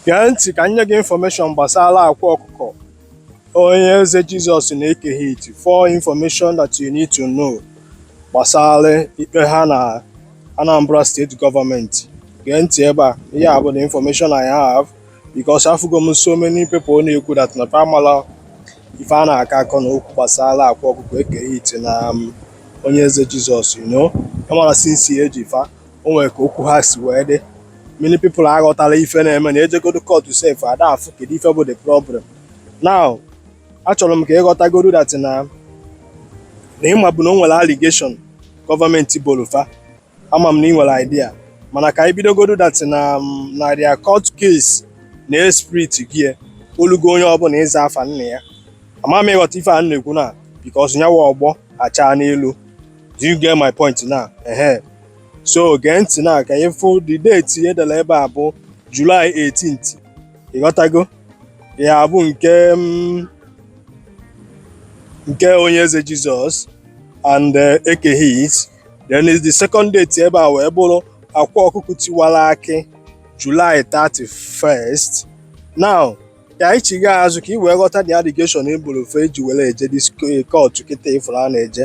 Gee ntị ka nye gị infọmeshọn gbasara akwa ọkụkọ onye eze Jizọs na Eke hit for information that you need to know gbasara ikpe ha na Anambra steeti gọọmenti gee ntị ebe a ihe a bụ the information I have because afụgo m so many people na-ekwu that na fa amala ife a na-akọ akọ na okwu gbasara akwa ọkụkọ eke hit na um, onye eze Jizọs you know amala since eji fa o nwere ka okwu ha si wee dị many people aghọtala ife na-eme na ejegodo court sef ada afụ kedu ife bụ the problem now achọrọ m ka ị ghọtagodo that na na ịma bụ na o nwere allegation gọọmenti boro fa ama m na ị nwere idea mana ka anyị bidogodo that na um, na their court case na e split ya olugo onye ọbụla ịza afa nna ya ama m ị ghọta ife a m na-ekwu na because nyawa ọgbọ achaa n'elu do you get my point now ehe so gee ntị na ka ị fụ the date edela ebe a bụ July 18th ị ghọtago ya bụ nke mm, nke onye eze Jizọs and eh, eke hit then is the second date ebe a wee bụrụ akwa ọkụkọ tiwara akị July 31st now ka anyị chigha azụ ka ị wee ghọta the allegation e boro fa eji were eje this court kịta ị fụrụ a na-eje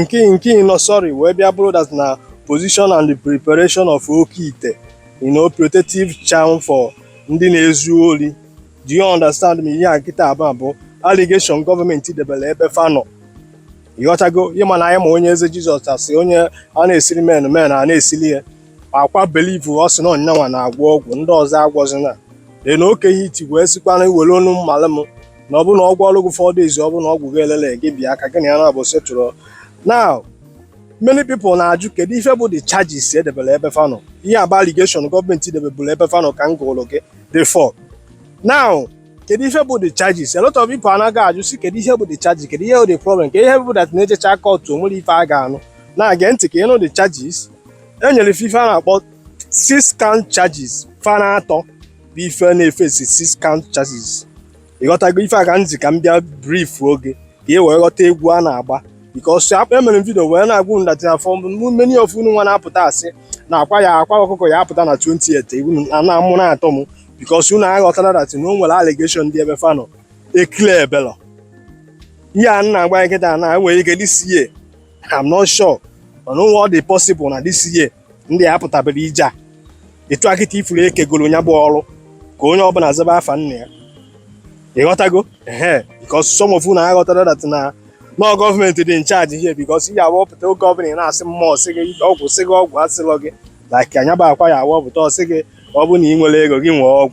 nke nke ịnọ sorry wee bịa bụrụ that na possession and the preparation of oke ite you know protective charm for ndị na-ezu ori do you understand me ihe a kịta a bụ allegation gọọmenti debere ebe fa nọ ị ghọtago ị ma na anyị ma onye eze jizọs asị onye a na-esiri men men a na-esili ya akwa believe ọ sị na ọ nya nwa na-agwọ ọgwụ ndị ọzọ agwọzina then eke hit wee sikwana iwere onu mmalị m na ọ bụ na ọgwụ ọrụ gị four days ọ bụ na ọgwụ gị elele gị bịa ka gị na ya naabọ settle now many people na-ajụ kedu ife bụ the charges edebere ebe fa nọ ihe a bụ allegation gọọmenti debeburu ebe fa nọ ka m gụrụ gị the four now kedu ife bụ the charges a lot of people anaghị ajụ si kedu ihe bụ the charges kedu ihe bụ the problem kedu ihe bụ that na-ejecha kọtụ o nwere ife a ga-anụ na-age ntị ka ị nụ the charges e nyere ife ife a na-akpọ six count charges fa na atọ bụ ife na-efesi six count charges ị ghọtago ife a ka m ji ka m bịa brief oge ka e wee ghọta egwu a na-agba because akpa emere m vidio wee na-agwa unu that for many of unu nwa na-apụta asị na akwa ya akwa ọkụkọ ya apụta na 28 egwu na na amụ na-atọ m because unu aghọtara that na o nwere allegation dị ebe fa nọ e clearbelọ ihe a na-agba kịta na e nwere ike dịsie I'm not sure mana onwe ọ dị possible na this year ndị a pụtabere ije a etu a kịta ifuru ekegoro ya bụ ọrụ ka onye ọbụla zaba afa nna ya ịghọtago ehe because some of unu aghọtara that na ọ gọọmenti dị in charge here because ihe awọpụta oge ọbụla ị na-asị mmụọ sị gị ọgwụ sị gị ọgwụ asịlọ gị like nya bụ Akwa ya awọpụta ọ sị gị ọ bụ na ị nwere ego gị nwee ọgwụ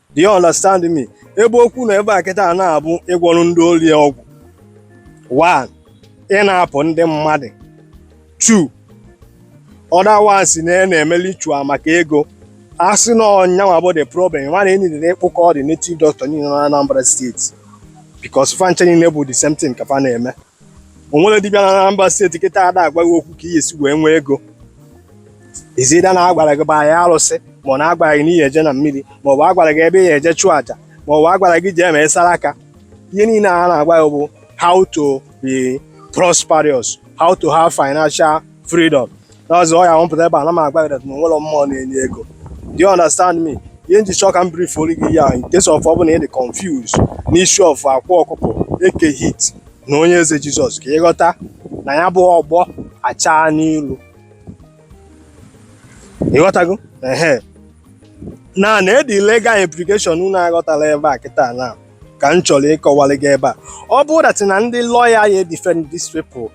Do you understand me? Ebe okwu na ebe a kịta a na-abụ ịgwọrọ ndị ori ọgwụ. One, ị na-apụ ndị mmadụ. Two, other one sị na ya na-eme ritual maka ego. A sị na ọ nyanwa bụ the problem, mana enidere ịkpụkọ the native doctor niile na Anambra steeti. Because fa ncha niile bụ the same thing ka fa na-eme. o nwere dibịa na Anambra steeti kịta ada agwa gị okwu ka i ye-esi wee nwee ego is either na agwara gị baa ya arụsị ma ọ na agwara gị na i ye-eje na mmiri ma ọ bụ agwara gị ebe i ye-eje chụọ aja ma ọ bụ agwara gị jee mee saraka ihe niile a na-agwa gị bụ how to be prosperous how to have financial freedom That's why I want to ebe a na m agwa gị that na onwerọ mmụọ na-enye ego. Do you understand me? Ihe nji chọọ ka m briefuolu gị ya in case of ọ bụ na ị dị confused n'issue of Akwa Ọkụkọ Eke Hit na Onye Eze Jizọs ka ịghọta na ya bụ ọgbọ achaa n'ilu. Ịghọtago? Ehe. Na na the legal implication unu aghọtalọ ebe a kịta na ka m chọrọ ịkọwalụ gị ebe a. Ọ bụrụ that na ndị lọya ya defend these people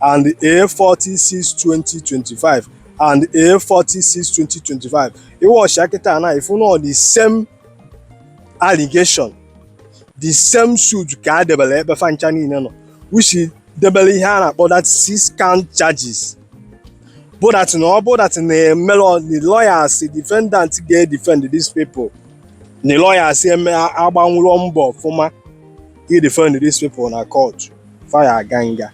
and A46 2025 and A46 2025 ị watchịa kịta na ị fụ na ọ the same allegation the same suit ka a debere ebe fa ncha niile nọ which debere ihe a na-akpọ that six count charges bụ that na ọ bụ that na-emelọ the lawyers the defendant ga-edefend these people the lawyers eme agbanwurọ mbọ ọfụma ịdefend these people na court. fa ya-aga nga.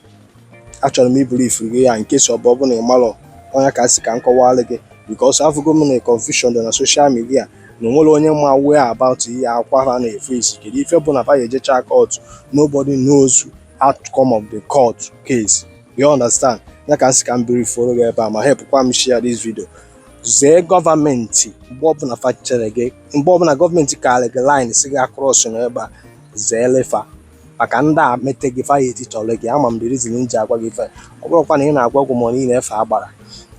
Achọrọ m ịbriefuru gị ya in case ọ bụ ọ bụ na ị marọ ọ nya ka m sị ka m kọwara gị because afụgo m na confusion dị na social media na onwerọ onye ma aware about ihe Akwa ha na-eface kedu ife bụ na fa ya ejecha court nobody knows outcome of the court case you understand ya ka m sị ka m briefuru gị ebe a ma helpụkwa m share this video zee gọọmenti mgbe ọbụla fa chere gị mgbe ọbụla gọọmenti kaara gị line sị gị acrossụna ebe a zeere fa maka ndị a mete gị fa ya etichọrọ gị ama m the reason m ji agwa gị ife ọ bụrụkwa na ị na-agwọ ọgwụ ma ọ na ị na-efe agbara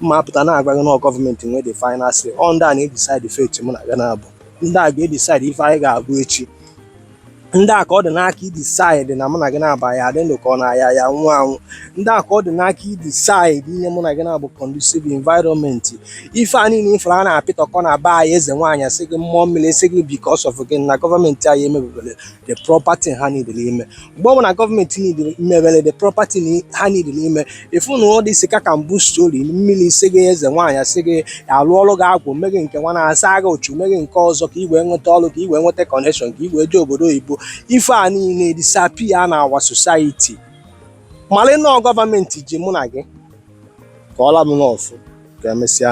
mụ apụta na-agwa gị na ọ gọọmenti nwe the final say ọ ndị a na-edecide fate mụ na gị naabọ ndị a ga-edecide ife anyị ga-abụ echi ndị a ka ọ dị n'aka idecide na mụ na gị na ọ bụ a ya-adị ndụ ka ọ na anyị ya-anwụ anwụ ndị a ka ọ dị n'aka idecide inye mụ na gị na-abụ conducive environment ife a niile ị fụrụ a na-apịtọkọ na be anyị eze nwaanyị sị gị mmụọ mmiri sị gị because of gị na gọọmenti anyị emebeberọ the proper thing ha needịrị ime mgbe ọ bụ na gọọmenti mebere the proper thing ha needịrị ime ị fụ na all this cock and bull story mmiri sị gị eze nwaanyị sị gị a lụọrọ gị agwụ mee gị nke nwa na-asa gị uchu mee gị nke ọzọ ka i wee nweta ọrụ ka i wee nweta connection ka i wee jee obodo oyibo ife a niile disappear na our society mana no gọọmenti ji mụ na gị kọọla m n'ọfụ ka e mesịa